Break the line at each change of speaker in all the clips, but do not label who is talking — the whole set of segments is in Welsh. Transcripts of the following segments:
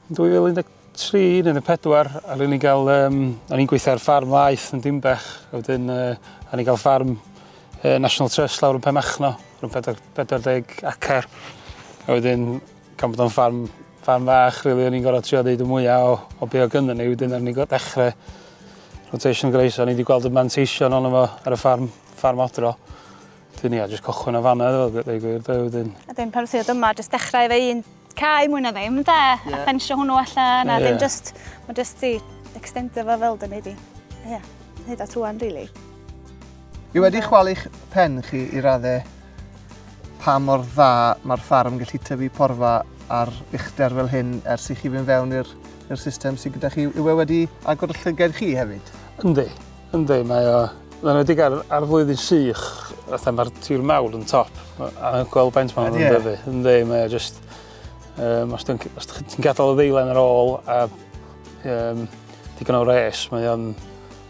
Yn 2013 neu 14, a o'n i'n cael, um, o'n i'n gweithio ar ffarm laeth yn Dimbech, a wedyn uh, o'n i'n cael ffarm uh, National Trust lawr yn Penmachno, rhwng 40 acer, a wedyn gan bod o'n ffarm, ffarm fach, really, o'n i'n gorfod trio ddeud y mwyaf o, o be o gynnu ni, wedyn o'n i'n gorfod dechrau rotation grace, o'n i wedi gweld y manteision ond efo ar y ffarm, ffarm odro. Wedyn ia, jyst cychwyn o fanna iddo fo, ddeu gwir, de, wedyn. A dim pan ddod yma,
jyst dechrau efo un cae mwy na ddim, de? Yeah. A ffensio hwnnw allan, a yeah. dim jyst, mae jyst ti extendio fo fel dyn ni di. Ia, yeah. hyd at rwan, really. I
wedi chwalu'ch pen chi i raddau pa mor dda mae'r ffarm gallu tyfu porfa ar uchder fel hyn ers i chi fynd fewn i'r system sydd gyda chi. Yw e wedi agor y llygad chi hefyd? Yndi. Yndi,
mae o, yn enwedig ar, ar flwyddyn sych, fatha mae'r tir mawr yn top, a gweld faint mae'n yeah. dyfu. Yndi, mae o just, um, os ti'n gadael y ddeilen ar ôl a um, digon o res, mae o'n,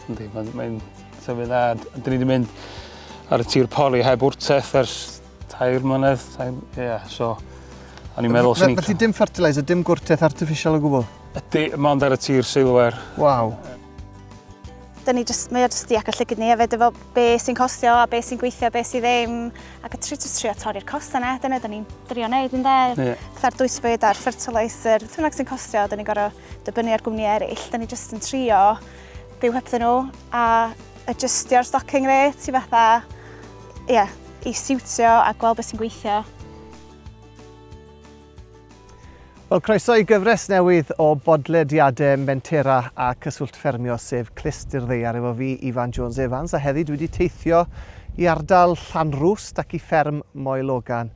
yndi, mae'n mae tyfu dda. Dyn ni wedi mynd ar y tir pori heb wrteth ers tair mlynedd, tair, yeah, so, o'n i'n meddwl sy'n... Felly dim fertilizer, dim
gwrteth artificial o gwbl? Ydy, mae ond ar y
tir seilwer. Waw.
Dyn ni just, mae o jyst ac y llygyd ni hefyd efo be sy'n costio a be sy'n gweithio, be sy'n ddim. Ac y tri, tri a torri'r cost yna, dyna dyn ni'n drio wneud yn dde. Yeah. Fatha'r dwysbyd a'r fertilizer, beth bynnag sy'n costio, dyn ni'n gorau dybynnu ar gwmni eraill. Dyn ni jyst yn trio byw hebddyn nhw a adjustio'r stocking rate i fatha, ie, yeah, i siwtio a gweld beth sy'n gweithio.
Wel, croeso i gyfres newydd o bodlediadau Mentera a Cyswllt Ffermio, sef Clust i'r Ddeiar, efo fi, Ifan Jones Evans, a heddi dwi wedi teithio i ardal Llanrwst ac i fferm Moel Ogan.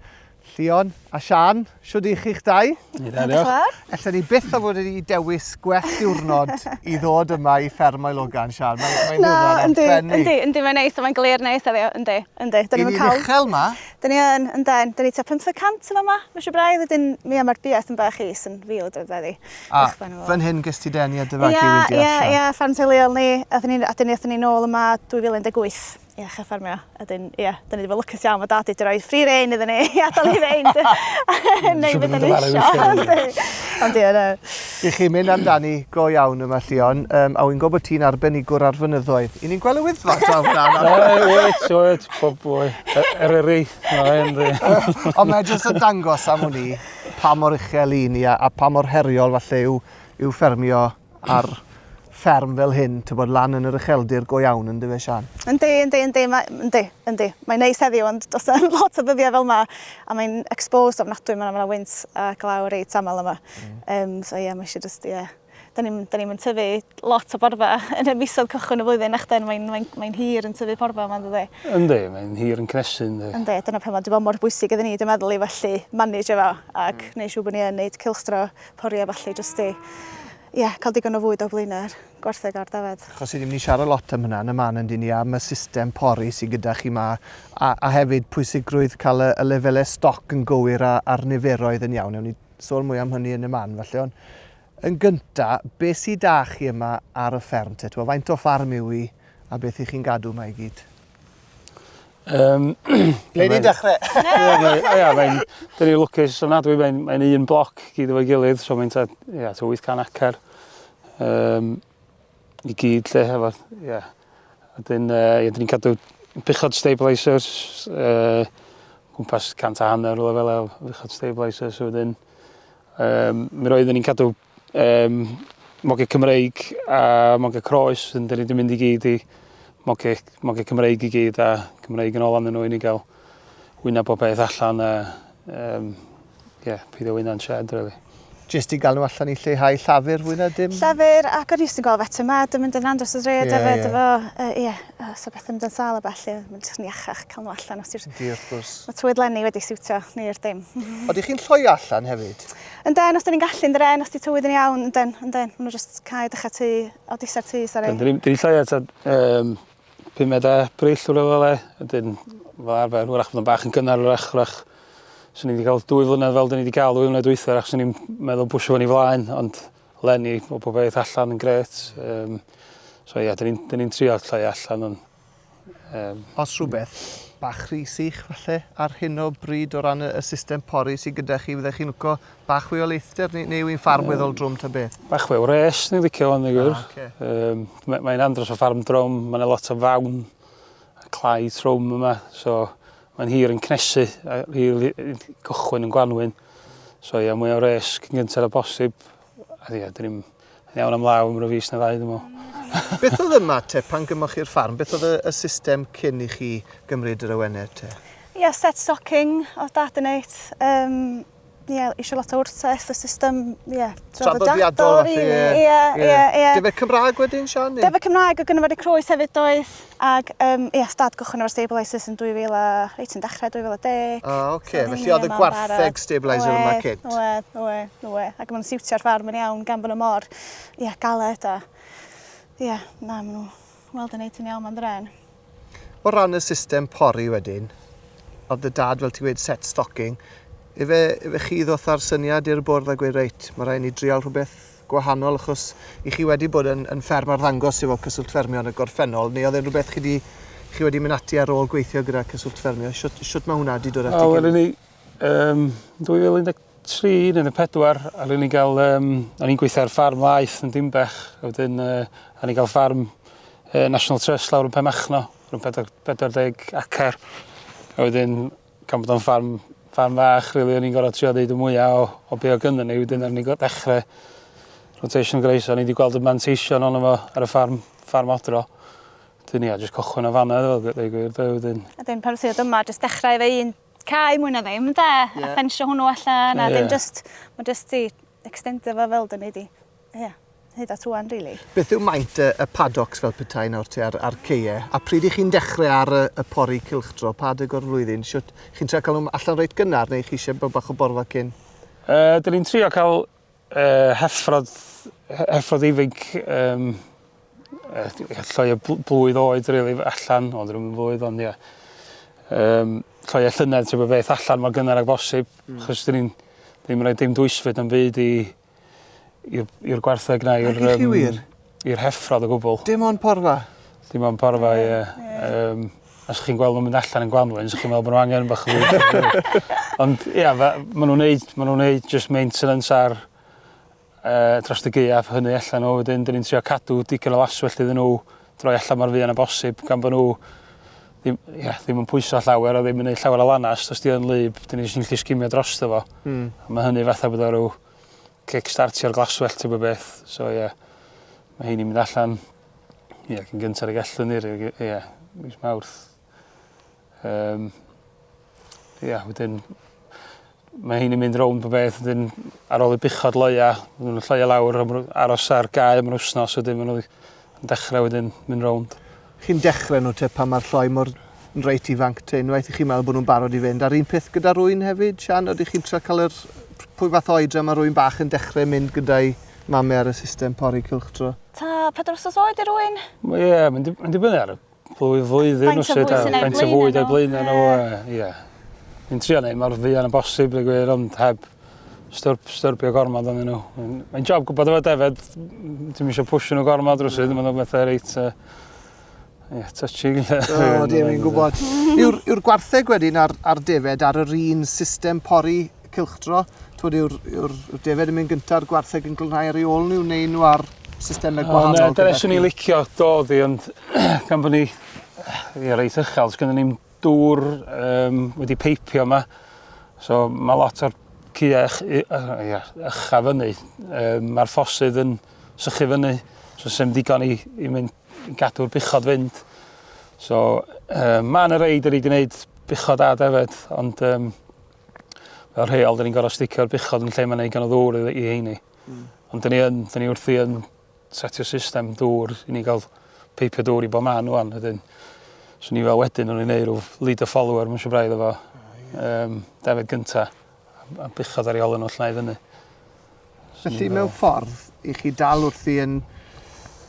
Llion a Sian, siwr i chi'ch dau? Ni da, diolch.
Ella ni byth o fod
wedi dewis gwell diwrnod i ddod yma i fferm Moel Ogan, Sian. Mae'n ddiwrnod arbennig. Yndi, yndi, yndi, mae'n neis, mae'n glir
neis heddiw, yndi, yndi. Dyn ni'n
uchel yma. Dyn ni yn, ynden.
Dyn ni tua pymtheg cant yn fama, ma' isio braidd, wedyn, ia, ma'r bia tym bach is yn ril drud weddi. A, fan
hyn ges ti deni a dy fagu wedi archar? Ia, ia, ia, ffarm teuluol ni.
Athon ni, a dyn ni athon ni nôl yma 2018 i ddechra ffarmio. A dyn, ia, dyn ni 'di bod lwcus iawn, ma' dad 'di roi free rein iddon ni i adal ni fynd a neud be' 'dan ni isio. Ond ia, na. Dych chi'n mynd
amdani go iawn yma, Llion, um, a wy'n gwybod bod ti'n arbenigwr ar fynyddoedd. I ni'n gweld y wyddfa draw fyna. Wyt, wyt, pob
bwy. Er eri, Ond
mae jyst yn dangos am hwn i pa mor uchel i ni a, a pa mor heriol falle yw, yw ffermio ar fferm fel hyn, tybod, lan yn yr ucheldir go iawn, yn dyfe, Siân? Yndi, yndi, yndi, mae,
yndi, yndi. Mae'n neis heddiw, ond does na ddim lot o ddyddiau fel yma, a mae'n exposed ofnadwy, mae 'na wynt a glaw reit aml yma. Yym, so ie, mae eisiau jyst, ie. Da ni'm, da ni'm yn tyfu lot o borfa yn y misoedd cychwyn y flwyddyn, nachden, mae'n, mae'n, mae'n hir yn tyfu porfa yma, yn dydi? Yndi, mae'n hir
yn cnesu, yndi. Yndi, dyna pam mae wedi bod mor
bwysig iddyn ni, dwi'n meddwl, i felly manage efo ac wneud siŵr bod ni yn wneud cylchdro pori a ballu jyst i Ie, cael digon o fwyd o flaenau'r gwartheg a'r dafad. Achos ni ddim wedi siarad lot
am hynna yn y man yndyn ni, am y system pori sydd gyda chi 'ma, a, a hefyd pwysigrwydd cael y, y lefelau stoc yn gywir a, a'r niferoedd yn iawn. Ewn ni sôn mwy am hynny yn y man, falle, ond yn gynta, beth sydd 'da chi yma ar y fferm te? T'mo, faint o ffarm yw hi, a beth 'y chi'n gadw yma i gyd? Yym Ble ni'n dechre? Ia mae'n
'dyn ni lwcus ofnadwy mae'n mae'n un bloc gyd efo'i gilydd so mae'n tua ia tua 800 acar yym i gyd 'lly hefo ia a 'dyn yy ia 'dyn ni'n cadw buchod stabilisers yy gwmpas cant a hanner rwla fel 'a o fuchod stabilisers wedyn yym mi roedden ni'n cadw Yym, moge Cymreig a moge croes, wedyn 'dyn ni 'di mynd i gyd i moge moge Cymreig i gyd a Cymreig yn ôl arnyn nhw i ni ga'l wynna bob peth allan a yym ie peidio wyna'n sied rili. Jyst i ga'l nhw
allan i lleihau llafur fwy na dim? Llafur ac o'n i jyst yn
gweld Feta Mad yn mynd yn andros o drud efyd efo yy ie yy os o bethe mynd yn sâl a ballu a ma'n jyst yn iachach ca'l n'w allan os ti'r... Ydi wrth gwrs. Ma' twydd
Lenni wedi
siwtio ni i'r dim. Odych chi'n lloio
allan hefyd? Ynden, os da ni'n gallu,
ynden, os di tywydd yn iawn, ynden, ynden. Maen nhw just cael dechrau tu, o disau'r tu, sori. Dyn ni'n llai at
um, 5 meda brill o'r fel e, ydyn fel arfer, wrach bod yn bach yn gynnar, wrach, wrach, swn i wedi cael dwy flynedd fel dyn ni wedi cael dwy flynedd dweitha, wrach swn i'n meddwl bwysio fan i flaen, ond lenni o bob beth allan yn gret. Um, so ia, dyn ni'n ni
trio
llai allan, ond Yym.
Os
rhywbeth,
bach rhy sych falle ar hyn o bryd o ran y y system pori sy gyda chi fyddech chi'n lico bach fwy o leithder neu neu yw 'i'n ffarm weddol drwm ta beth? Bach fwy o wres ni'n
licio hwn i gwir. Ah oce. Yym ma' mae'n andros o ffarm drwm ma' 'na lot o fawn a clai trwm yma so mae'n hir yn cnesu a rili yn cychwyn yn gwanwyn so ia mwy o wres cyn gynted â posib a ia 'dyn ni'm Yn iawn am law am rhyw fis na ddau, dwi'n meddwl. Beth oedd
ymateb pan gymoch chi'r ffarm? Beth oedd y, y system cyn i chi gymryd yr awenau te? Ie, yeah, set
stocking o dad yn eit. Um, ie, yeah, eisiau lot o wrtaith, y system, ie, yeah, traddodiadol,
rili. Ie,
ie, ie. Defe Cymraeg
wedyn, Sian? Defe Cymraeg o gynnyfod y
croes hefyd doedd. Ac yym ia stad cychwyn efo stabilisers yn 2000 a... reit yn dechre 2010. Ah ok, felly oedd y
gwartheg stabiliser yma cynt? Oedd, oedd, oedd. Ac
maen nhw'n siwtio'r ffarm yn iawn gan bod nhw mor ia, galed a ia, na maen nhw weld yn neud yn iawn ma'n ddraen. O ran
y system pori wedyn, oedd dy dad fel ti'n gweud set stocking, efe, efe chi ddoth â'r syniad i'r bwrdd a gweud reit, mae rhaid ni drial rhywbeth gwahanol achos i chi wedi bod yn, yn fferm arddangos efo Cyswllt Ffermio yn y gorffennol, neu oedd e'n rhywbeth chi wedi, chi wedi mynd ati ar ôl gweithio gyda Cyswllt Ffermio? Siwt, siwt mae hwnna wedi dod at ei gilydd? Wel, um,
2013 yn y pedwar, a rydyn ni'n cael, um, o'n i'n gweithio ar ffarm laeth yn Dimbech, a wedyn uh, a ni'n cael ffarm uh, National Trust lawr yn Pemachno, rhwng 40 acar, a wedyn gan bod o'n ffarm ffarm fach rili o'n i'n gor'o' trio neud y mwya o o be' o' gynno ni wedyn o'n ni go- dechre rotation grace o'n i 'di gweld y manteision onno fo ar y ffarm ffarm odro. 'Dyn ia jyst cychwyn o fana oedd o g- deu' gwir 'de wedyn. A 'dyn pan ddoth i ddod yma
jyst dechrau efo un cae mwy na ddim ynde? Ie. A ffensio hwnnw allan a 'dyn jyst ma' jyst 'di ecstendio fo fel 'dyn ni 'di Ie, hyd at rwan rili. Beth yw maint y y
paddocks fel petai nawr ti ar ar ceie? A pryd y'ch chi'n dechre ar y y pori cylchdro? Pa adeg o'r flwyddyn? Shwt? Chi'n trio ca'l nhw allan reit gynnar neu chi isie bod bach o borfa cyn? Yy, dyn ni'n
trio ca'l yy heffrod he- heffrod ifinc yym yy llai o bl- blwydd oed rili allan, o 'dyn nhw'm yn flwydd ond ie. Yym, llai o llynedd trio bo' beth allan mor gynnar ag bosib. Hmm. Achos dyn ni'n ddim yn roi dim dwysfyd na'm byd i i'r i'r gwartheg na i'r Naci chi wir? i'r heffrod o gwbwl. Dim ond porfa?
Dim ond porfa
ie. Yym os chi'n gweld nw'n mynd allan yn Gwanwyn so chi'n meddwl bo' n'w angen bach o Ond ia fe- ma' nw'n neud ma' nw'n neud jyst maintenance ar yy dros y gaeaf hynny allan n'w wedyn 'dyn ni'n trio cadw digon o laswellt iddyn n'w droi allan mor fuan â bosib gan bod nhw ddim, ia, ddim yn pwyso llawer a ddim yn gwneud llawer o lanast. Os di yn lyb, dyn ni jyst yn gallu sgimio dros dy fo. Mm. A mae hynny fatha bod o rhyw kickstartio'r glaswell ti'n bod beth. So ie, yeah, mae hyn i'n mynd allan ie, yeah, cyn gyntaf y gallwn ni, ie, yeah, mis mawrth. Yym ia wedyn mae hyn yn mynd rownd po beth wedyn ar ôl y buchod loia ma' nw'n lloio lawr am rw- aros ar gae am yr wsnos wedyn ma' n'w yn dechre wedyn mynd rownd. Chi'n dechre n'w
te pan ma'r lloi mor yn reit ifanc te unwaith i chi me'wl bo' nw'n barod i fynd a'r un peth gyda rwyn hefyd Siân odych chi'n trio ca'l yr p- pwy fath o oedran ma' rwyn bach yn dechre mynd gyda'i mame ar y system pori cylchdro? T'a pedwar wsos
oed i rywun. Mae e mae'n di-
mae'n dibynnu ar y Bob flwyddyn os ydw i'n cael ei fwyd a'i blaenau nhw, ie. Fi'n trio neud mor fuan a bosib dweud gwir ond heb stwrp, styrbio gormod ond nhw. Mae'n job gwybod efo Defed, ti'n eisiau pwysio nhw gormod rhywsyd, mm. mae'n bethau reit... Uh, Ie, yeah, touching. O, dim yn gwybod.
Yw'r gwartheg wedyn ar, ar defed ar yr un system pori cylchdro, t'wod yw'r yw'r defaid yn mynd gynta a'r gwartheg yn glanhau ar ei ôl nhw neu nhw ar systemau gwahanol? Ond dyna swn i'n licio
dod i ond gan bod ni ie reit uchel, os gynnu ni'n dŵr um, wedi peipio yma, so mae lot o'r cya ycha fyny, um, mae'r ffosydd yn sychu fyny, so sy'n ddigon i, i mynd gadw'r buchod fynd. So, um, mae'n y reid yr i gwneud buchod a defed, ond um, fel rheol, dyn ni'n gorau sticio'r buchod yn lle mae'n ei gan o ddŵr i, i heini. Mm. Ond dyn ni yn, dyn ni wrthi yn setio system dŵr i ni gael peipio dŵr i bob man o'n. Wedyn, so ni fel wedyn o'n i'n neud rhyw lead a follower, mae'n siw braidd efo um, David Gynta, a buchod ar ei ôl yn oll na i fyny. Felly
mewn ffordd, i chi dal wrthi yn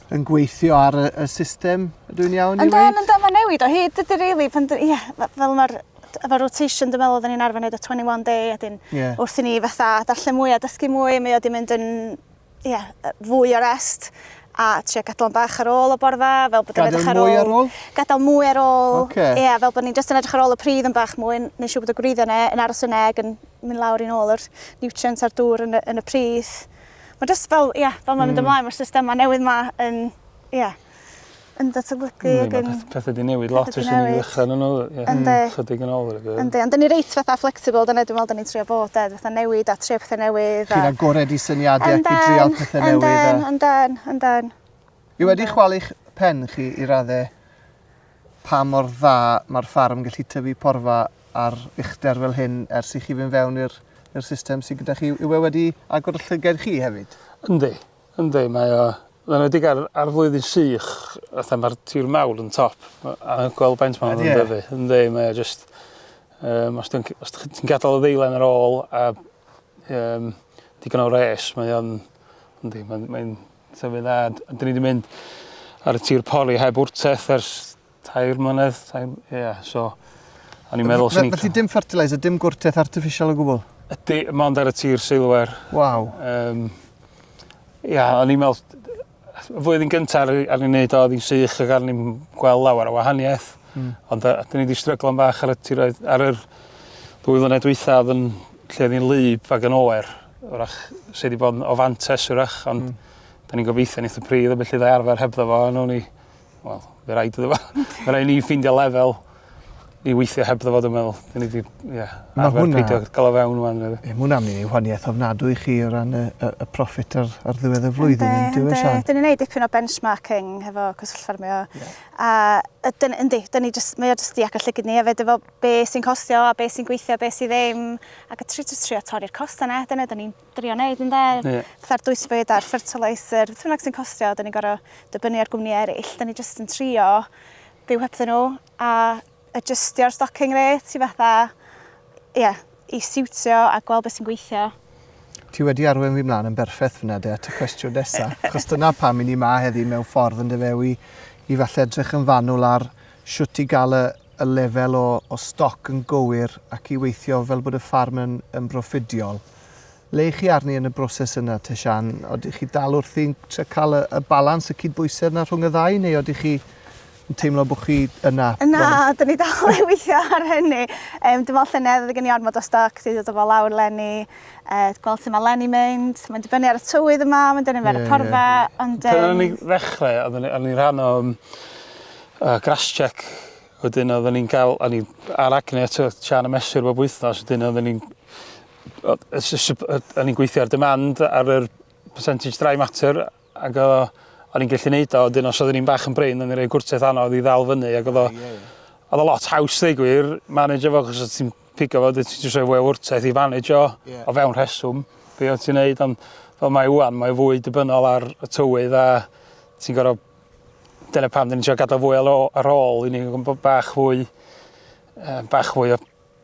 yn gweithio ar y, y system, ydw i'n iawn i weid? Yndan, yndan, mae'n newid o hyd, dydy
rili, pan, ie, fel mae'r efo rotation dwi'n meddwl oedden ni'n arfer wneud y 21 day a dyn yeah. wrth i ni fatha darllen mwy a dysgu mwy mae o wedi mynd yn yeah, fwy o rest a trio gadael bach ar ôl o borfa fel bod yn edrych ar ôl, ar ôl? gadael mwy
ar ôl
okay. yeah, fel bod ni'n just
yn edrych
ar ôl y pridd yn bach mwy neu siw bod y gwreiddiau yna yn aros yn eg yn mynd lawr i nôl yr nutrients a'r dŵr yn y, yn y pridd. Mae jyst fel, ie, yeah, fel mae'n mynd hmm. ymlaen, mae'r systemau newydd ma yn, ie, yeah, yn datblygu hmm, ac yn... Pethau di newid lot ys
ni ddechrau nhw, ie, hmm, chydig yn ôl. Yndi, ond dyn ni reit fatha
flexible, dyna dwi'n meddwl dyn ni'n trio bod, ed, fatha newid a trio pethau newydd. Chi'n agored i syniadau
ac i drial pethau newydd. Yndan, yndan, yndan.
I wedi
chwalu'ch pen chi i raddau pa mor dda mae'r ffarm yn gallu tyfu porfa ar uchder fel hyn ers i chi fynd fewn i'r i'r system sydd gyda chi. Yw e wedi agor y llyged chi hefyd? Yndi, yndi,
mae o Mae'n wedi gael ar flwyddyn sych, fatha mae'r tir mawr yn top, a gweld baint mae'n yn dyfu. Yndi, mae o just, um, os ti'n gadael y ddeilen ar ôl a um, digon o res, mae o'n, yndi, mae'n mae Tyfu dda, a dyn ni wedi mynd ar y tir pori heb wrteth ers tair mlynedd. Tair, yeah, so, o'n i'n meddwl sy'n... Felly dim fertilizer, dim
gwrteth artificial o gwbl? Ydy, mae ond ar y
tir seilwer. Waw. Um,
ia,
o'n i'n meddwl, y flwyddyn gyntaf ar, ar ei wneud o, oedd hi'n sych ac ar ni'n gweld lawer o wahaniaeth. Mm. Ond dyn ni wedi stryglo'n fach ar y tiroedd, ar yr ddwy flynedd dwytha oedd yn lle oedd hi'n lyb ac yn oer. wrach, sydd wedi bod yn o fantes wrach, ond mm. da ni'n gobeithio yn eitha pryd, a felly dda arfer hebddo fo, a nhw'n ni, wel, fe rhaid iddo fo, fe rhaid ni ffeindio lefel i weithio heb ddyfod yn meddwl. Dyn ni wedi yeah, arfer hwnna... peidio gael o fewn rwan. Mae hwnna'n mynd i wahaniaeth
ofnadw i chi o ran y, y, y profit ar, ar ddiwedd y flwyddyn. Ynddi, ynddi. Dyn ni'n gwneud neud
dipyn o benchmarking hefo cysylltffermio. Yeah. A dyn, yndi, dyn ni just, mae o jyst di agor llygyd ni hefyd efo be sy'n costio a be sy'n gweithio a be sydd ddim ac y tri trio torri'r costau yna, dyna dyn ni'n drio wneud yn dde. Yeah. Fatha'r dwysfwyd a'r fertilizer, beth bynnag sy'n costio, dyn ni'n gorau dybynnu ar gwmni eraill, dyn ni jyst yn trio byw hebddyn nhw a adjustio'r stocking rate i fatha, ie, yeah, i siwtio a gweld beth sy'n gweithio. Ti wedi
arwen fi mlaen yn berffeth fyna de at y cwestiwn nesa. Chos dyna pam i ni ma heddi mewn ffordd yn dyfe i, i falle edrych yn fanwl ar siwt i gael y, y lefel o, o stoc yn gywir ac i weithio fel bod y ffarm yn, yn broffidiol. Le chi arni yn y broses yna te Siân? Odych chi dal wrthi'n trio cael y, y balans, y cydbwysedd yna rhwng y ddau, neu odych chi yn teimlo bod chi yna? Na, dyn ni
dal i weithio ar hynny. Um, dim ond llynedd oedd gen i ormod o stoc, dwi wedi dod o lawr Lenny, uh, gweld sut mae Lenny mynd, mae'n dibynnu ar y tywydd yma, mae'n dibynnu ar y porfa, yeah. ond... Um... Pan o'n i'n
ddechrau, o'n i'n rhan o um, uh, grass check Wedyn oedden ni'n cael, o'n i ar acne eto, Sian y mesur bob wythnos, wedyn oedden ni'n o'n i'n gweithio ar demand ar yr percentage dry matter ac o, o'n i'n gallu neud o, dyn os oeddwn i'n bach yn brain, o'n i'n rhoi gwrtaith anodd i ddal fyny ac oedd o, oedd o lot haws ddeu gwir, manage efo, cos ti'n pigo fo, ti'n just rhoi fwy o wrtaith i manage o, yeah. o fewn rheswm, be o'n ti'n neud, ond fel mae wan, mae fwy dibynnol ar y tywydd a ti'n gorau, dyna pam dyn ni'n siarad gadael fwy ar ôl, i ni bach fwy, bach fwy o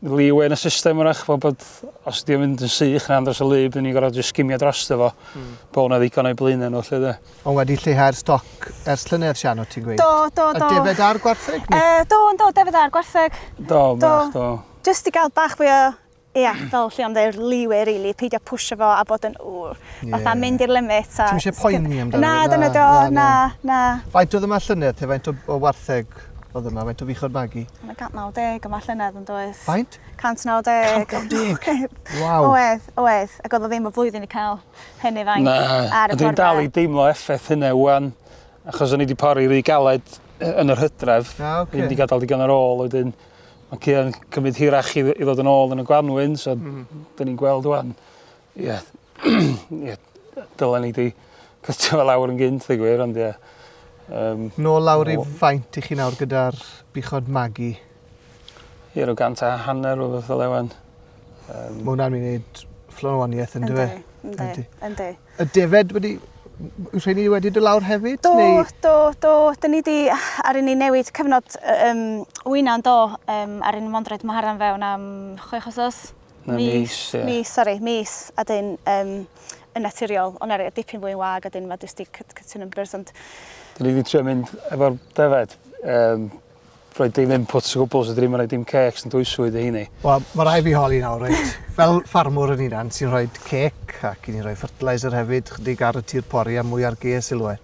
leeway yn y system wrach, bod, bod os ydy'n mynd yn sych na dros y lu, byddwn ni'n gorfod just gymio dros dy fo. Mm. Bod hwnna ddigon o'i blaen nhw, lle dde. Ond wedi lleihau'r
stoc ers llynedd, Sian, o ti'n gweud? Do, do, do. A defed ar
gwartheg?
E, do, do, defed
ar gwartheg. Do, do.
bach, do. Just i gael
bach fwy o Ie, yeah, fel lle ond e'r liwe, really, peidio pwysio fo a bod yn wr. Yeah. Fatha mynd i'r limit. Ti'n eisiau poeni amdano?
Na, dyna do, na,
na. Faint oedd yma
llynedd te, faint o, o wartheg Ffwc, oedd yna faint o fuchod bagu? Mae 190
yma llynedd yn does? Faint? 190. 190?
Waw. Oedd, oedd. Ac oedd
o ddim y flwyddyn i cael hynny faint Na, ar y dwi'n dal i deimlo effaith
hynna wan, achos o'n i wedi pori rhy galed yn yr hydref. Ah, okay. Ddim wedi gadael digon ar ôl, wedyn mae cyn cymryd hirach i, i ddod yn ôl yn y gwanwyn, so mm. dyn ni'n gweld wan. Ie. Ie. Dylen ni 'di cytuno fe lawr yn gynt ddeu gwir ond ie. Yym.
Nôl lawr i faint i chi nawr gyda'r buchod Maggie?
Ie rw gant a hanner o rwbeth fel 'a ŵan. Yym. Ma'
wnna'n myn' i neud fflon o wanieth on'd yw e? Yndi yndi. Yndi.
Y defed
wedi m- m- yw rheini wedi do' lawr hefyd neu? Do do
do 'dyn ni 'di aru ni newid cyfnod yy yym wyna on'd do? Yym aru ni mond roid maharan fewn am chwech wsos. Na mis ie. Mis sori mis a 'dyn yym yn naturiol ond eryg dipyn fwy yn wag a 'dyn ma' jyst 'di cut cut y numbers ond... Dyn ni 'di
trio mynd efo'r defaid yym rhoi dim inputs o gwbwl so 'dyn ni'm yn roi dim cêcs yn dwysfwyd i heini. Wel ma' rai' fi holi nawr
reit fel ffarmwr yn hunan sy'n rhoid cêc ac 'yn ni'n rhoi fertiliser hefyd chydig ar y tir pori a mwy ar gaeau silwair.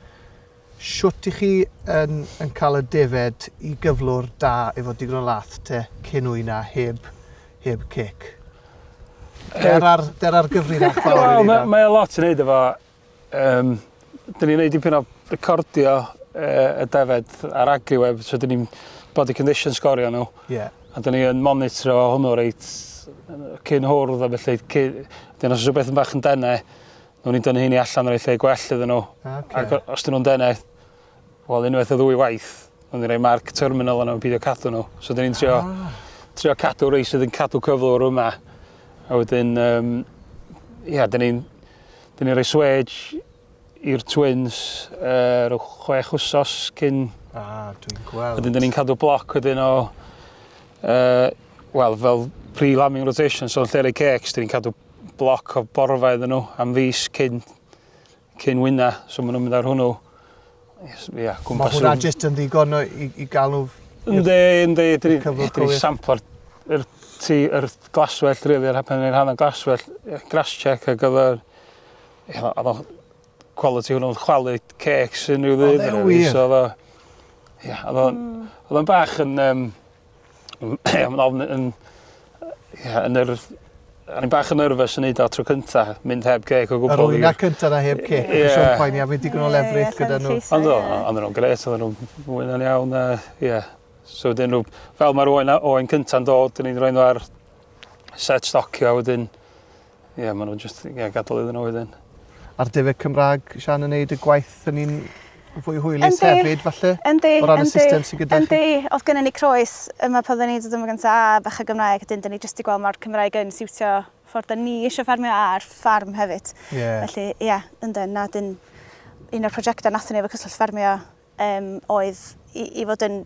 Shwt i chi yn yn cael y defed i gyflwr da efo digon o lath te cyn wyna heb heb cic. Der ar der ar gyfrinach fawr i ni. Wel mae o lot i neud efo
yym dyn ni'n neud dipyn o recordio yy y defed ar agriweb so dyn ni'n body condition sgorio nhw. Ie. A dyn ni yn monitro hwnnw reit cyn hwrdd a felly cy- dyn os o's rhywbeth yn bach yn dene Newn ni dynnu heini allan roi lle gwell iddyn nhw. Okay. Ac os dyn nhw'n denau, wel unwaith o ddwy waith, newn ni roi marc terminal yna yn pidio cadw nhw. So dyn ni'n trio, ah. trio cadw rei sydd yn cadw cyflwr yma. A wedyn, um, ia, dyn ni'n ni roi swedge i'r twins uh, rhyw chwech wsos cyn... Ah, dwi'n
gweld. Wedyn dyn ni'n cadw bloc
wedyn o... Uh, wel, fel pre-lambing rotation, so yn lle rei cecs, dyn ni'n cadw bloc o borfa iddyn nhw am fis cyn, cyn wyna, so maen nhw'n mynd ar hwnnw. Ia,
Mae hwnna jyst yn ddigon i, i gael nhw... Ynddi, ynddi,
dyn ni samplo'r er, ti, er glaswell, rili, yr hapen ni'n rhan o glaswell, grass check a gyfer... Oedd o quality hwnnw'n chwalu cecs unrhyw ddydd. Oedd e
wir?
Oedd o'n bach yn... Um, Ie, mae'n ofn yn... Ie, yn yr... O'n i'n bach yn nervous yn neud o tro cynta, mynd heb geg o gwbl. Yr wyna cynta na heb
ceg. Ie. Nes o'n poeni a fi'n digon o lefrith gyda nhw. Ond o, o'n nhw'n
gret, o'n nhw'n wyna'n iawn a ie. So wedyn nhw, fel mae'r oen, oen cynta'n dod, o'n i'n rhoi nhw ar set stocio a wedyn Ie, yeah, maen nhw'n just yeah, gadael iddyn nhw wedyn. A'r defyd
Cymraeg, Sian, yn neud y gwaith yn un fwy hwylus hefyd, falle? Yndi, O ran y system sy'n gyda chi? Yndi, oedd gennym ni croes
yma pan oedden ni'n dod yma gyntaf a bach o Gymraeg, dyn ni jyst i gweld mae'r Cymraeg yn siwtio ffordd da ni eisiau ffarmio a'r ffarm hefyd. Yeah. Felly, ie, yeah, ynddo, na, dyn un o'r prosiectau nath ni efo Cyswllt Ffarmio um, oedd i, i fod yn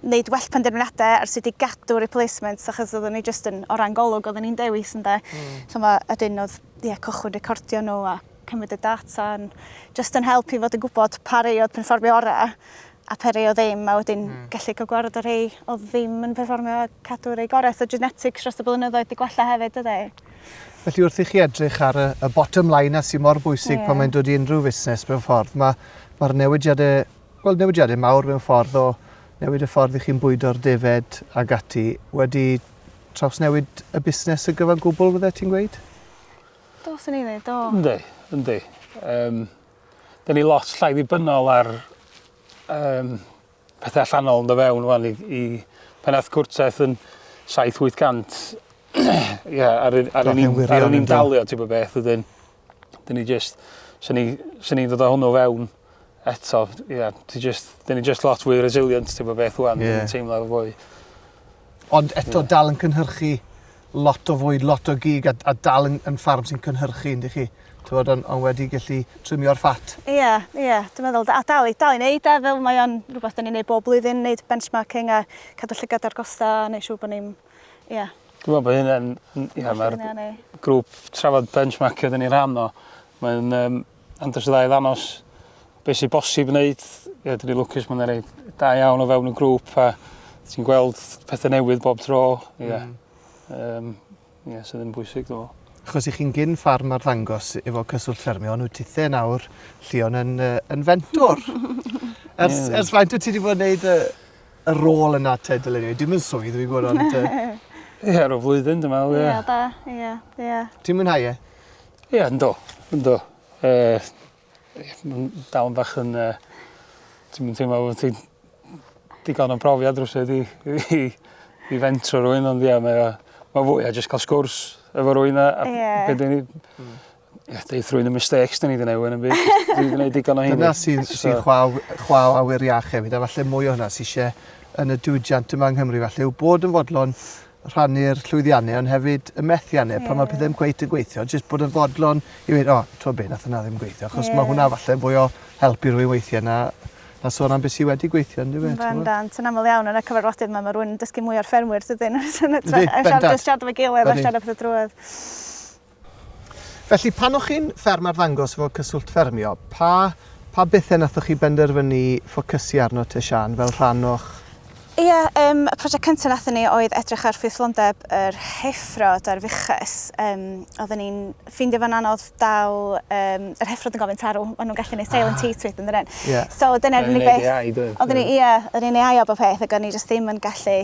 wneud well penderfyniadau ar sut i gadw replacements, achos oedden ni jyst yn, o ran golwg, oedden ni'n dewis yn da. Mm. So mae, ydyn oedd, ie, yeah, cychwyn recordio nhw a cymryd y data, yn, jyst yn help i fod yn gwybod pa rei oedd perfformio orau a pa rei o ddim, a wedyn mm. gallu cael gwared o rei o ddim yn perfformio a cadw rei gorau. So genetics dros y blynyddoedd wedi gwella hefyd, ydy. Felly wrth i
chi edrych ar y, y bottom line a sy'n mor bwysig yeah. pan mae'n dod i unrhyw fusnes mewn ffordd, mae Mae'r newidiadau, wel newidiadau mawr mewn ffordd o newid y ffordd i chi'n bwydo'r defaid ag ati wedi trawsnewid y busnes y gyfan gwbl fydde ti'n gweud? Do,
sy'n ei ddweud, do. Ynddi, ynddi. Um,
Dyna ni lot llai ddibynnol ar um, pethau allanol yn dod fewn wan i, i pan ath cwrtaeth yn 7-800 ia, ar, yr- ar, Do'n yn i'n- i'n wirion ar yn i'n yn do. dalio ti bod beth ydyn. Dyn ni just, sy'n ni, sy'n ni'n dod o hwnnw fewn eto, ia, ti just, dyn ni just lot fwy resilient ti bod beth wan, Ie. dyn ni'n teimlo fwy Ond
eto dal yn cynhyrchu lot o fwyd, lot o gig a, a dal yn, yn ffarm sy'n cynhyrchu, yndych chi? Tywod, ond on wedi gallu trimio'r ffat. Ie, yeah, ie. Yeah. Dwi'n meddwl,
a dal i, dal i wneud e, fel mae o'n rhywbeth da ni'n neud bob blwyddyn, neud benchmarking a cadw llygad ar gosta a neud siŵr bod ni'n, ie. Yeah. Dwi'n meddwl bod hynna'n,
ie, mae'r grŵp trafod benchmarkio da ni rhan o. Mae'n, um, Ond os ydda i ddanos beth sy'n bosib wneud, ie, dyn ni lwcus, mae'n rhaid da iawn o fewn y grŵp a ti'n gweld pethau newydd bob tro, ie. Yeah. Mm. Um, ie, yeah, sydd yn bwysig, dwi'n meddwl. Chos i chi'n gyn ffarm
ar ddangos efo cyswllt ffermio, nhw tithe nawr, Llion yn, uh, yn fentor. ers, yeah. ers faint o ti wedi bod yn gwneud y, y rôl yna te, dylen ni? Dim yn swydd, dwi'n gwybod, ond... Ie, yeah,
rhoi flwyddyn, dwi'n meddwl, ie. Ie, da, ie, ie. Ti'n
mwynhau e? Ie yndw
yndw. Yy ma'n dal yn bach yn yy ti'm yn teimlo fel ti'n digon o brofiad rywsut i i i fentro rywun ond ie mae o ma' fwy o jyst ca'l sgwrs efo rywun a a... Ie. ...be' 'dan ni hmm ie deud thrwyn y mistakes 'dan ni 'di neu' ŵan am byd jyst dwi 'di neud digon o heiny. Dyna sy'n sy'n chwa
w- chwa w awyr iach hefyd a falle mwy o hwnna sy isie yn y diwydiant yma yng Nghymru falle yw bod yn fodlon rhannu'r llwyddiannau ond hefyd y methiannau yeah. pan mae pethau ddim cweit yn gweithio, jyst bod yn fodlon i ddweud, o, oh, ti'n be, nath yna ddim gweithio, achos yeah. mae hwnna falle fwy o help i rwy'n weithio na na sôn am beth sydd wedi gweithio yn dweud. Mae'n dan, sy'n aml iawn yn y
cyfarfodydd yma, mae rwy'n dysgu mwy o'r ffermwyr, dydyn nhw'n siarad o'r gilydd a siarad o'r drwydd. Felly,
pan o'ch chi'n fferm arddangos efo Cyswllt Ffermio, pa pa bethe nathoch chi benderfynu ffocysu arno te Siân fel rhan o'ch... Ia,
yym y project cynta nathon ni oedd edrych ar ffrwythlondeb yr heffro 'da'r fuches. Yym odden ni'n ffeindio fo'n anodd dal yym yr heffro'n gorfod tarw, ma' nhw'n gallu neud silent heat wedyn dydyn? Ie. So dyna'r unig beth... Odden ni'n neud ei ai do? Odden ni ia, odden ni'n ei aio bob peth ag o'n ni jyst ddim yn gallu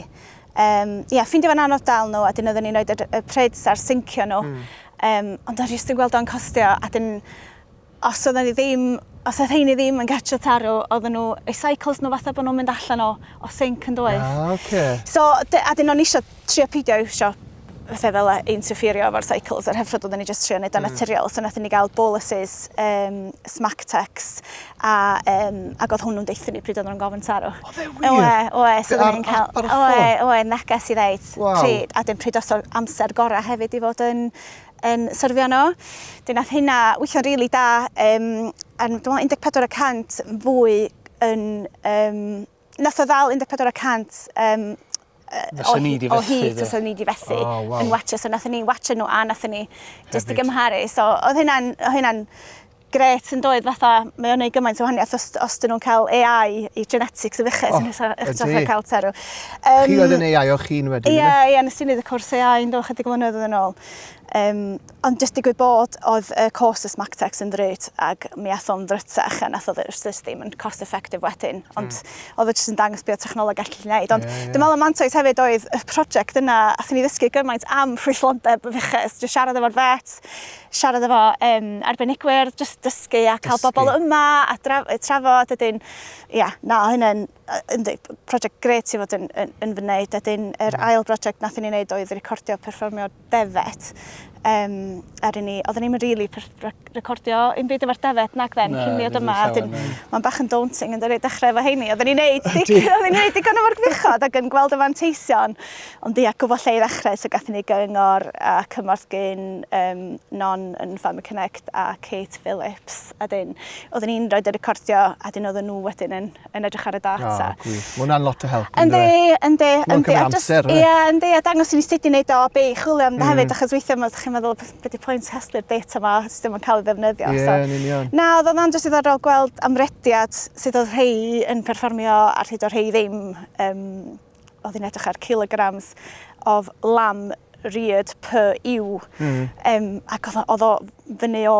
Yym, ie, ffeindio fo'n anodd dal nhw a 'dyn oedden ni'n rhoid y y prids ar sincio nhw. Hmm. Yym, ond o'n jyst yn gweld o'n costio a 'dyn os oedden ni ddim os oedd rheiny ddim yn gartre tarw oedden nhw eu cycles nhw fatha bo' nhw'n mynd allan o o sinc yndoedd? Ah oce. So dy- a 'dyn o'n i isio trio peidio iwsio fatha fel e- interfferio efo'r cycles yr hyfryd oedden ni jyst trio neud o'n Mm. naturiol. So nathon ni gael boluses um, smack tex a um, ag oedd hwnnw'n deutho ni pryd oedden nhw'n gofyn tarw. O, fe wir? Oe, oe, so
Be, oedden ar ni'n cael...
app ar y Oe, ffôn? oe, neges i ddeud Waw. pryd, a dim pryd os o'r amser gorau hefyd i fod yn yn syrfio nhw. Dyn nath hynna weithio'n rili really da, um, a dwi'n meddwl 14 y cant fwy yn um, Nath o ddal 14 y cant um, o, ni di o hyd tasa ni di fethu oh, wow. yn watcho. So nath ni watcho nhw a nath ni just i gymharu. So oedd hynna'n hynna gret yn doedd fatha, mae o'n ei gymaint o wahaniaeth os, os dyn nhw'n cael AI i genetics y fychus oh, nes eich traffa cael terw. Um, chi oedd yn
AI o chi'n wedyn? Ie, ie, nes i wneud y cwrs
AI yn do, chydig mlynedd yn ôl. Um, Ond jyst digwydd bod oedd y cost y Smactex yn ddrut ac mi ath o'n ddrytach a nath o jyst ddim yn cost effective wedyn. Ond mm. oedd o jyst yn dangos beth technoleg gallu gwneud. Ond yeah, yeah. dwi'n meddwl y mantais hefyd oedd y prosiect yna, a thyn ni ddysgu gymaint am rhwyllondeb y fuches. Jyst siarad efo'r vet, siarad efo um, arbenigwyr, jyst dysgu a cael dysgu. bobl yma a draf, trafod. Ydyn, ia, yeah, na, hynny'n prosiect gret i fod yn, yn, yn fy wneud. Ydyn, yr mm. ail brosiect nath ni'n wneud oedd recordio perfformio defaid um, er i ni, oedden ni'n rili really recordio un byd efo'r defaid nag then, cyn mi oedd yma. Mae'n bach yn daunting yn dydi, dechrau efo heini. Oedden ni'n neud, oedden ni'n neud digon o'r gwichod ac yn gweld y fanteision, ond di ac efo lle i ddechrau, so gath ni gyngor a cymorth gyn um, Non yn Farmer Connect a Kate Phillips. A dyn, oedden ni'n rhoi dy recordio, a dyn oedden nhw wedyn yn yn edrych ar y data. Oh, gwych. Mae hwnna'n lot o
help. Yndi, yndi. Mae'n
cymryd
amser. Ie, yndi. A dangos i ni
sut i wneud o, be i chwilio am mm. hefyd, achos weithiau mae chi'n meddwl, beth di pwynt casglu'r data yma, os dim yn cael ei ddefnyddio. Ie, yeah, yn union. Na,
oedd o'n just ddiddorol
gweld amrediad sydd oedd rhai yn perfformio a rhyd o rhai ddim. Um, oedd hi'n edrych ar kilograms of lamb reared per ewe. Mm. Um, ac oedd o fyny o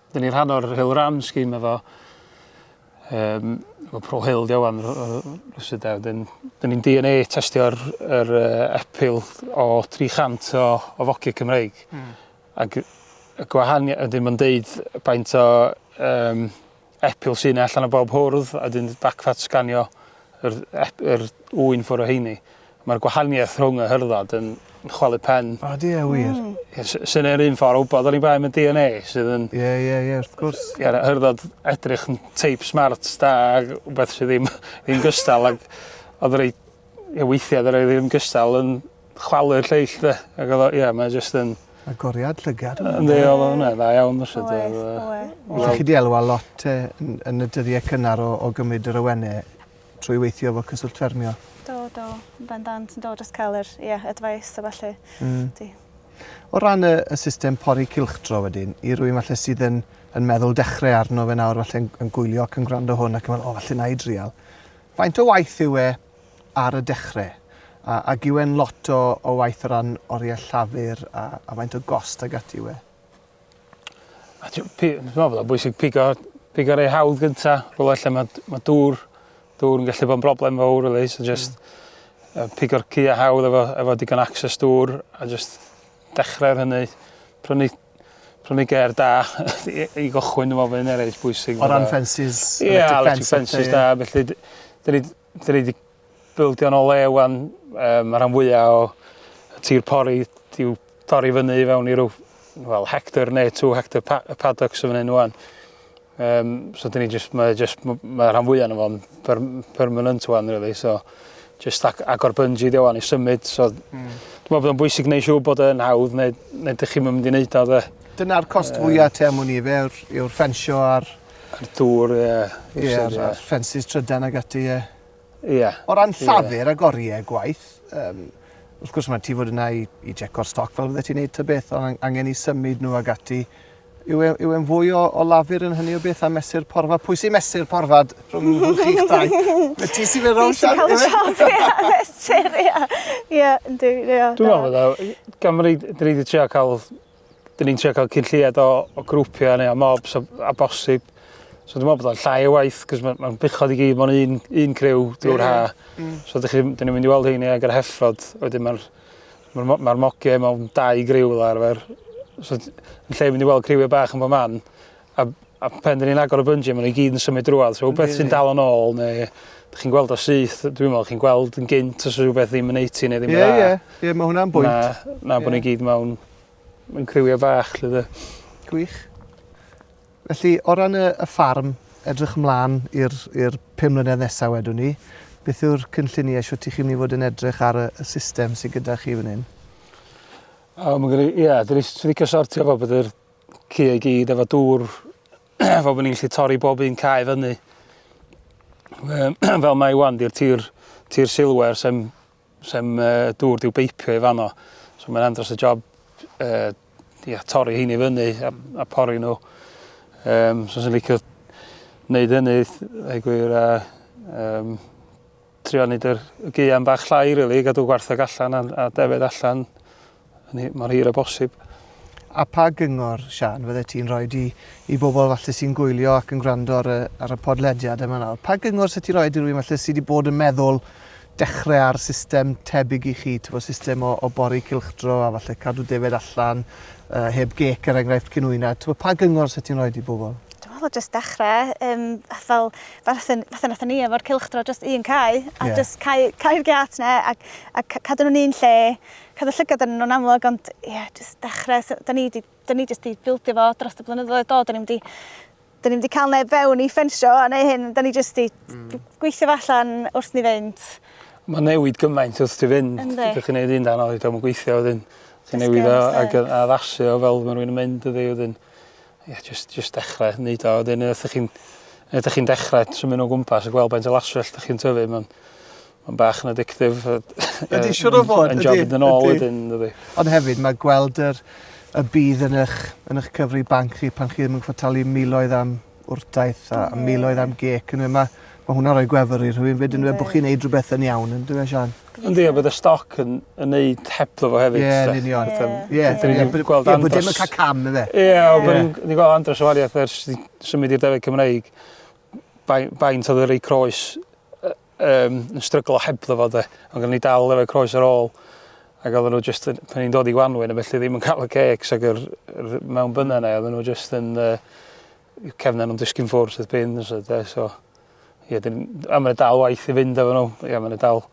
Dyn ni rhan o'r Hill Ram scheme efo um, efo Pro Hill di owan rhywsyd e. Dyn, dyn ni'n DNA testio'r er, uh, epil o 300 o, o fogiau Cymreig. Mm. Ac y gwahaniaeth, ydyn nhw'n deud baint o um, epil sy'n allan o bob hwrdd a dyn backfat sganio yr, yr ŵyn ffwr o heini. Mae'r gwahaniaeth rhwng y hyrddod yn chwalu pen. O, di e wir?
Ie, sy- Sy'n yr un
ffordd o wybod o'n i'n bai am y DNA sydd yn... Ie, ie, ie, wrth gwrs.
Ie, na, hyrddod
edrych yn teip smart da ag wbeth sydd ddim ddim gystal ag oedd rei ie, weithiau oedd y rei ddim gystal yn chwalu'r lleill de ac oedd o ie mae jyst yn Agoriad llygad.
Yndi, oedd o hwnna dda
iawn fyset Oedd, oedd.
Ydych chi 'di elwa lot te yn yn y dyddie cynnar o o gymryd yr awene? Trwy weithio efo Cyswllt Ffermio? Do, do.
Bendant, do, jyst cael yr, ie, advice a falle. Mm. Di.
O ran y, y system pori cilchdro wedyn, i rwy'n falle sydd yn, yn meddwl dechrau arno fe nawr, falle yn, yn gwylio ac yn gwrando hwn ac yn meddwl, o, falle na i drial. Faint o waith yw e ar y dechrau? A, a gywen lot o, o waith o ran oriau llafur a, a faint o gost ag ati yw e? A ti-
pi- dwi me'wl bod o'n bwysig pigo pigo rei hawdd gynta rwle lle ma' d- ma' dŵr dŵr yn gallu bod yn broblem fowr rili so jyst... Hmm. ...yy pigo'r cya hawdd efo efo digon o access dŵr a jyst dechre ar hynny. Prynu prynu gêr da i i gychwyn dwi me'wl by' hynna reit bwysig. O ran ffensys...
Ie electric
ffensys da felly d- 'dyn ni 'Dyn ni 'di bildio nôl le 'wan, yy ma' rhan fwya o tir pori 'di i'w torri fyny i fewn i rw wel hectar ne' two hectar pa- yy paddocks yn fan 'yn ŵan. Yym so 'dyn ni jyst mae o jyst m- ma' rhan fwya ono fo'n per- m- permanent ŵan rili so jyst ag- agor bungee 'di o ŵan i symud so... Hmm. ...dwi me'wl bod o'n bwysig neu' siŵr bod yn hawdd neu neu dych chi'm yn mynd i neud o 'de? Dyna'r cost fwya...
Yym. ...ti am wn i ife yw'r yw'r ffensio a'r A'r dŵr, ie.
Ie, a'r
a'r ffensys trydan ag ati, ie. Ie. O
ran llafur
ag oriau gwaith, yym, wrth gwrs mae ti fod yna i i jeco'r stoc fel fyddet ti'n neud ta beth, ond angen i symud nhw ag ati. Yw e yw e'n fwy o o lafur yn hynny o beth a mesur porfa? Pwy sy'n mesur porfa d- rhwng rhwng chi'ch dau? Wyt ti sy'n mynd rownd siŵr? Fi sy'n ca'l y job ie a
mesur ie. Ie yndi ie. Dwi me'wl fydda
i Cymru dwi 'di trio ca'l 'dyn ni'n trio cael cyn lleied o, o grwpiau neu o mobs a, a bosib. So dwi'n meddwl bod o'n llai o waith, cos mae'n ma bychod i gyd mewn un, un criw drwy'r yeah. ha. Mm. So dych chi, dyn ni'n mynd i weld hyn ag yr heffrod, wedyn mae'r ma, ma, ma mogiau mewn dau griw fel arfer. So yn lle mynd i weld criwiau bach yn bod man, A, a pen dyn ni'n agor y bungee, maen nhw gyd yn symud drwad. So, beth sy'n dal yn ôl, neu ydych chi'n gweld o syth, dwi'n meddwl, chi'n gweld yn gynt os yw rhywbeth ddim yn eitu neu ddim yn dda. Ie, ie, ie, mae hwnna'n bwynt. Na,
na yeah. bod ni gyd mewn,
mewn criwiau bach, lle dde. Gwych.
Felly, o ran y, y ffarm, edrych ymlaen i'r pum mlynedd nesaf wedwn ni, beth yw'r cynlluniau sio ti chi'n mynd i fod yn edrych ar y, y system sydd gyda chi fan hyn? O,
mae'n gwneud, ie, dyn ni'n licio sortio fo bod yr Ci i gyd efo dŵr fel bod ni'n gallu torri bob un cae fyny. fel mae wan, di'r tir, tir silwer sem, sem uh, dŵr diw beipio i fanno. So mae'n andros y job uh, ia, torri hyn i fyny a, a pori nhw. Um, so sy'n licio wneud hynny, ei gwir, a um, trio neud yr y gaean bach llai rili, gadw gwartheg allan a, a defed allan yn hi- mor hir â bosib. A pa
gyngor, Siân, fyddet ti'n rhoi i, i bobl falle sy'n gwylio ac yn gwrando ar y, ar y podlediad yma nawr? Pa gyngor sydd ti'n rhoi i rwy'n falle sydd wedi bod yn meddwl dechrau ar system tebyg i chi, tyfo, system o, o bori cilchdro a falle cadw defed allan, uh, heb gec er enghraifft cyn wyna, tyfo, pa gyngor sydd ti'n rhoi i bobl? Dwi'n meddwl jyst dechrau,
um, fel fel sy'n, fatha wnaethon ni efo'r cylchdro, jyst un cae, a jyst cau, cau'r giât 'na, a, a cadw nhw'n un lle, cadw llygad arnyn nhw'n amlwg, ond ie, jyst dechrau, so, da ni di, da ni jyst di bildio fo dros y blynyddoedd do, da ni'n di, da ni'n di cael neb fewn i ffensio a neu hyn, da ni jyst di mm. gweithio allan wrth ni fynd. Mae newid
gymaint wrth ti fynd, ydych chi'n gwneud un dan oedd, dwi'n gweithio wedyn, chi'n newid o ac addasu o fel mae rhywun yn mynd ydy wedyn. Ie, jyst, jyst dechrau wneud o. Wedyn, wrth ydych chi'n ydych chi'n dechrau symud o gwmpas a gweld beth o laswell ydych chi'n tyfu, mae'n ma bach yn addictif. Ydy, siwr
o fod. Yn job yn ôl wedyn,
dydy. Ond hefyd, mae
gweld yr, y bydd yn eich, yn eich cyfri banc chi pan chi ddim yn gwybod talu miloedd am wrtaith a miloedd am gec. Mae, mae hwnna'n rhoi gwefr i rhywun fyd yn dweud bod chi'n neud rhywbeth yn iawn, yn dweud Sian? Yndi a bydd y stoc
yn yn neud hebddo fo hefyd... Ie yn union. Ie. Ie.
Dyn ni 'di gweld Andros... Ie bod dim yn ca'l cam yfe? Ie a bo' ni'n ni'n
gwel' Andros o warieth ers i symud i'r Defaid Cymreig bai- faint odd y rei croes yy yym yn stryglo hebddo fo 'de ond gynno ni dal efo croes ar ôl ag oddan n'w jyst yn pan ni'n dod i Gwanwyn a felly ddim yn ca'l y cêcs ag yr yr mewn bynna 'ne oddan n'w jyst yn yy I'w cefn a nw'n disgyn ffwrdd wrth bin so de so ie dyn a ma' 'na dal waith i fynd efo nhw ie ma' 'na dal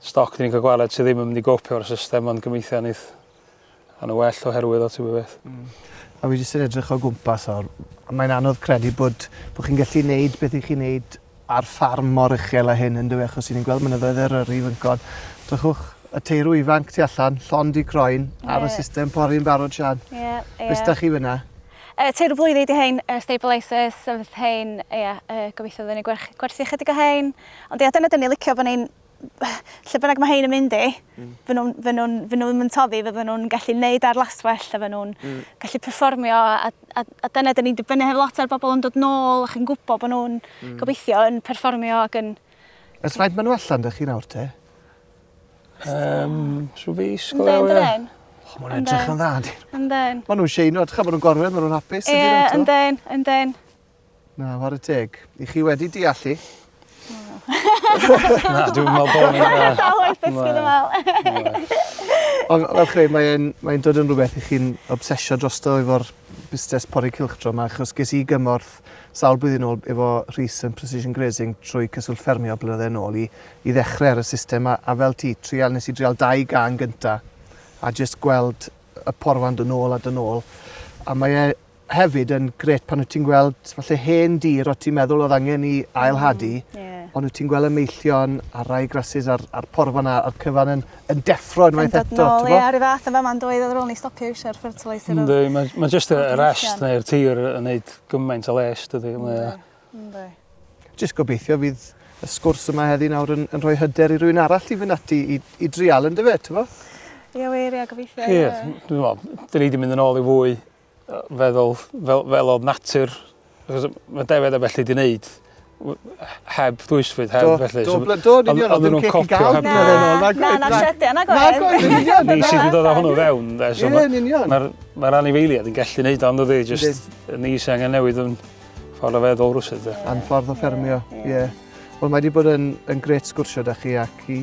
stoc dyn ni'n ca'l gwared sy ddim yn mynd i gopio o'r system ond gobeithio neith a' n'w well oherwydd o ti wbo beth. Hmm. A fi jyst
yn edrych o gwmpas nawr a mae'n anodd credu bod bo' chi'n gallu neud beth 'ych chi'n neud ar ffarm mor uchel a hyn yndyw e achos i ni'n gweld mynyddoedd Eryri fan hyn. Drychwch, y teirw ifanc tu allan, llond i groen yeah. ar y system pori yn barod Sian. Ie, yeah, ie. Yeah. da chi fyna? Uh, teirw blwyddi
di hein, uh, stabilisers, sefydd hein, ie, yeah, uh, gobeithio fydden ni gwerthu chydig o hein. Ond ie, yeah, dyna dyn ni licio bod ni'n lle bynnag mae hein yn mynd i, mm. fy nhw'n fy nhw, fy nhw ddim yn toddi, fy nhw'n gallu neud ar laswell, a fy nhw'n mm. gallu performio, a, a, a dyna dyn ni'n dibynnu hefyd lot ar bobl yn dod nôl ac yn gwybod bod nhw'n mm. gobeithio yn performio ac yn... Ys faint maen nhw
allan dych chi nawr te? Um,
so fi sgol iawn. Yndden, yndden. Oh, mae'n edrych yn
dda, Yndden. Maen nhw'n sheino,
ydych chi, maen
nhw'n gorfod, maen nhw'n hapus. Ie, yndden, yndden.
Na,
ware teg. I chi wedi deallu.
Na, dwi'n meddwl bod ni'n... Dwi'n dal o'i ddysgu dy meddwl.
Ond
fel chi, mae'n mae dod yn rhywbeth i chi'n obsesio dros to efo'r busnes pori cylchdro yma, achos ges i gymorth sawl blwyddyn ôl efo Rhys yn Precision Grazing trwy Cyswllt Ffermio blynydde yn ôl i, i ddechrau ar y system a, a fel ti, trial, nes i drial dau gan gynta a jyst gweld y porfan dod nôl a dod nôl. A mae e hefyd yn grêt pan wyt ti'n gweld falle hen dir o ti'n meddwl oedd angen i ail-hadu, mm, yeah. ond wyt ti'n gweld y meillion a'r rai grasus a'r, ar porfan a'r cyfan yn, yn deffro unwaith eto. Yn dod nôl, ie, ar y fath yn
fama yn dweud oedd rôl ni stopio eisiau'r fertilizer. Ynddi, mae ma jyst
y rest neu'r tir yn gwneud gymaint o les, dydy. Ynddi.
Jyst
gobeithio fydd y sgwrs yma heddi nawr yn, yn rhoi hyder i rwy'n arall i fynd ati i, i drial yn dyfe, ti'n fo? Ie, wir,
ie, gobeithio. Ie, dwi'n meddwl,
dyn ni wedi mynd yn ôl i fwy feddwl fel fel odd natur achos ma' defaid a bellu 'di neud w- heb ddwysfwyd heb felly so... Do do do yn
union odd ddim ceg i ga'l na na na na llety nag oedd?
Nag oedd yn union. Ni sy 'di dod
â hwnnw fewn 'de so ma'... Ie yn union. ...ma'r
ma'r anifeiliad
yn gallu neud o yndydi jyst ni sy angen newid 'yn ffordd o feddwl rywsut 'de. A'n ffordd o ffermio
ie. Wel mae 'di bod yn yn grêt sgwrsio 'da chi ac i